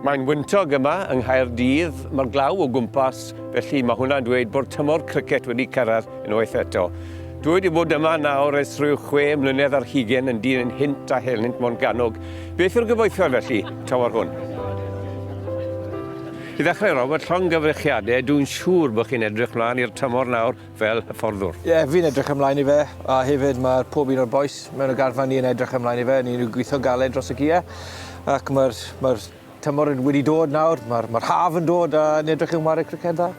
Mae'n wyntog yma yng Nghaerdydd, mae'r glaw o gwmpas, felly mae hwnna'n dweud bod tymor cricet wedi cyrraedd unwaith eto. Dwi wedi bod yma nawr ers rhyw chwe mlynedd ar hugen yn dyn yn hynt a helynt mo'n ganog. Beth yw'r gyfoethfa felly, tymor hwn? I ddechrau, Robert, llongyfrichiadau, dwi'n siŵr bod chi'n edrych mlaen i'r tymor nawr fel hyfforddwr. Ie, fi'n edrych ymlaen i fe, a hefyd mae pob un o'r bois mewn y garfan ni yn edrych ymlaen i fe, ni'n ni'n gweithio'n galed dros y giau, ac mae'r mae'r tymor yn wedi dod nawr, mae'r mae'r haf yn dod a ni'n edrych i wmare criced dda.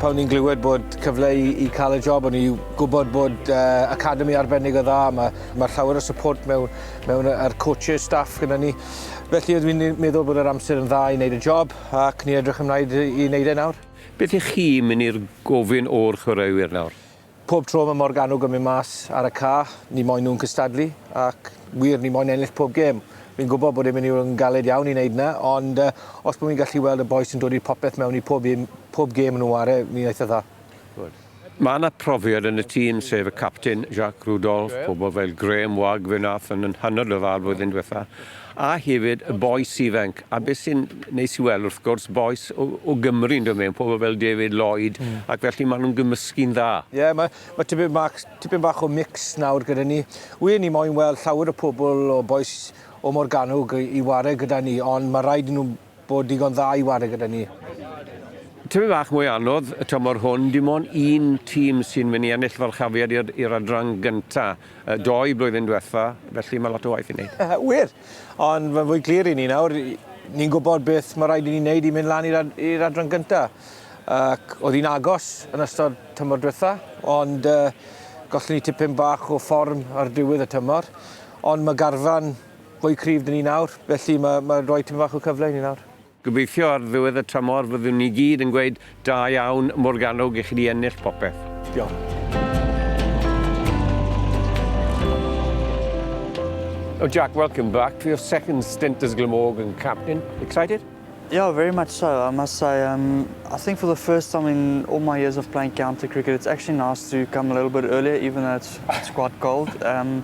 Pan o'n i'n glywed bod cyfle i i cael y job o'n i'n gwybod bod yy academi arbennig o dda, ma' ma' llawer o support mewn mewn yy a'r coaches staff gyda ni. Felly oedd fi'n meddwl bod yr amser yn dda i wneud y job ac ni'n edrych ymlaen i wneud e nawr. Beth ych chi yn mynd i'r gofyn o'r chwaraewyr nawr? Pob tro mae Morgannwg yn mynd mas ar y ca, ni moyn nhw'n cystadlu ac wir, ni moyn ennill pob gêm. Fi'n gwybod bod e'n mynd i fod yn galed iawn i wneud 'na ond os bod fi'n gallu weld y bois yn dod i'r popeth mewn i pob un, pob gêm nhw 'ware fi'n eitha dda. Good. Mae 'na profiad yn y tîm, sef y capten, Jacques Rudolph, pobl fel Graham Wagg, fe wnaeth yn yn hanner ryfel flwyddyn diwetha', a hefyd y bois ifanc, a beth sy'n neis i weld wrth gwrs, bois o o Gymru'n dod mewn, pobl fel David Lloyd, ac felly maen nhw'n gymysgu'n dda. Ie, mae mae tipyn bach tipyn bach o mix nawr gyda ni. Wir, ni moyn weld llawer o pobl o bois o Morgannwg i i ware gyda ni, ond ma' raid i nhw bod digon dda i ware gyda ni. Tipyn bach mwy anodd y tymor hwn, dim ond un tîm sy'n mynd i ennill falchafiad i'r i'r adran gynta', yy doi blwyddyn dwetha, felly ma' lot o waith i neud. Wir! Ond mae'n fwy clir i ni nawr, ni'n gwbod beth ma' raid i ni neud i mynd lan i'r ad- i'r adran gynta'. Ac o'dd hi'n agos yn ystod tymor dwetha, ond yy gollon ni tipyn bach o fform ar diwedd y tymor, ond ma' garfan fwy cryf 'da ni nawr, felly mae mae rhoi tipyn bach o cyfle i ni nawr. Gobeithio ar ddiwedd y tymor fyddwn ni gyd yn gweud 'da iawn Morgannwg i chi 'di ennill popeth'. Diolch. Oh Jack, welcome back for your second stint as Glamorgan captain. Excited? Yeah, very much so. I must say, um, I think for the first time in all my years of playing county cricket, it's actually nice to come a little bit earlier, even though it's, it's quite cold. Um,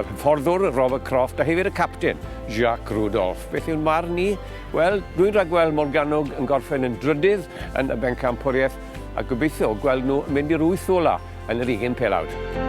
yr hyfforddwr Robert Croft a hefyd y capten, Jacques Rudolph. Beth yw'n marn ni? Wel, dwi'n rhagweld Morgannwg yn gorffen yn drydydd yn y bencampwriaeth a gobeithio gweld nhw yn mynd i'r wyth ola yn yr ugen pelawd.